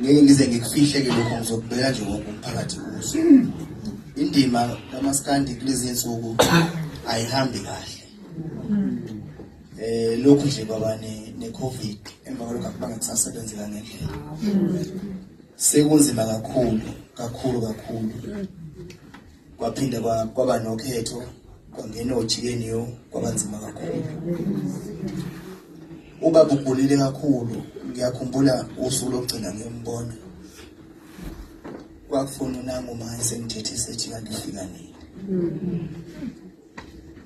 ngeke ngize ngikufihle ke lokho ngizokubeka nje wonke umphakathi uzwe indima kamaskandi kulezi nsuku ayihambi kahle eh lokhu nje baba ne ne covid emva kwalokho akubanga kusasebenzi kangendlela sekunzima kakhulu kakhulu kakhulu kwaphinde kwaba nokhetho kwangena ojikeni yo kwabanzima kakhulu uba bugulile kakhulu ngiyakhumbula usuku lokugcina ngiyombona kwakufuna unangu ma esengithethe sethi kanti ufika nini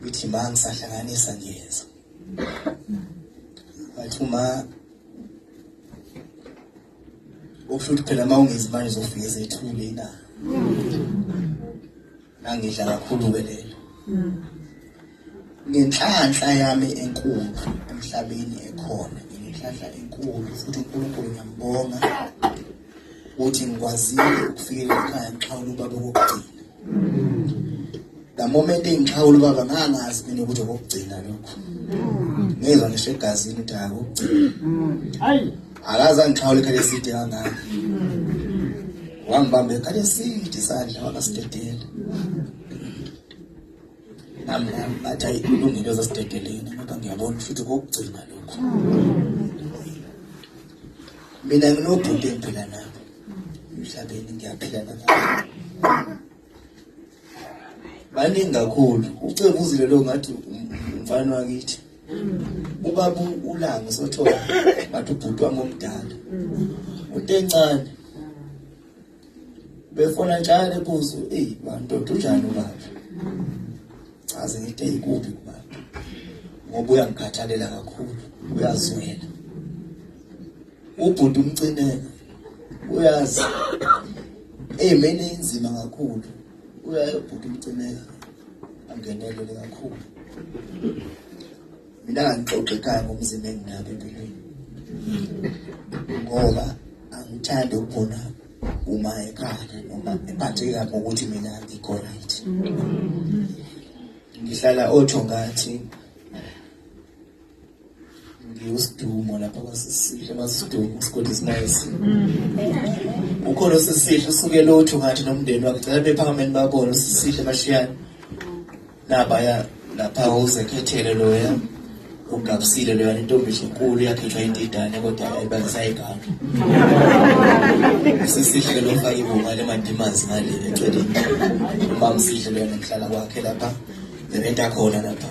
ngithi ma ngisahlanganisa ngiyeza wathi uma Ukusho ukuthi phela uma ungezi manje uzofika ezethule ina. Nangidla kakhulu ke lelo. Ngenhlanhla yami enkulu emhlabeni ekhona, ngenhlanhla enkulu futhi uNkulunkulu ngiyambonga ukuthi ngikwazile ukufika ekhaya ngixhawula ubaba wokugcina. The moment engixhawula ubaba ngangazi mina ukuthi okugcina lokho. Ngizwa ngisho egazini ukuthi akugcina. Hayi. Akaza ngixhawula ikhale side kangaka. Wangibamba ekhale side isandla wakasidedela. nami nami ngathi ayi kulungile zasidedeleni kodwa ngiyabona ukuthi kokugcina lokhu mina nginobhuti engiphila nabo emhlabeni ngiyaphila nabo baningi kakhulu ucebo uzile lo ngathi umfana wakithi ubaba ulanga sothola ngathi ubhuti wami omdala utencane befona njalo ebuzo eyi bantoda unjani ubaba chaze ngithi eyikubi kubaba ngoba uyangikhathalela kakhulu uyazwela ubhuti umcineka uyazi eyimeni inzima kakhulu uyaye ubhuti umcineka angenelele kakhulu mina ngangixoxe ekhaya ngomzimba enginabo empilweni ngoba angithandi ukubona uma ekhaya noma ephatheke kabi ngokuthi mina ngikho right ngihlala otho ngathi ngiwusidumo lapha kwasisihle masidumo isigodi esimayesi ukhona osisihle usukela otho ngathi nomndeni wakhe cela bephakameni babone usisihle bashiyane nabaya lapha usekhethele loya ugabisile loya intombi enkulu yakhethwa indidane kodwa ayibalisayiganga sisihle lo fake ibunga lemandimazi ngale eceleni umamsihle loya nemhlala kwakhe lapha nebenta khona lapha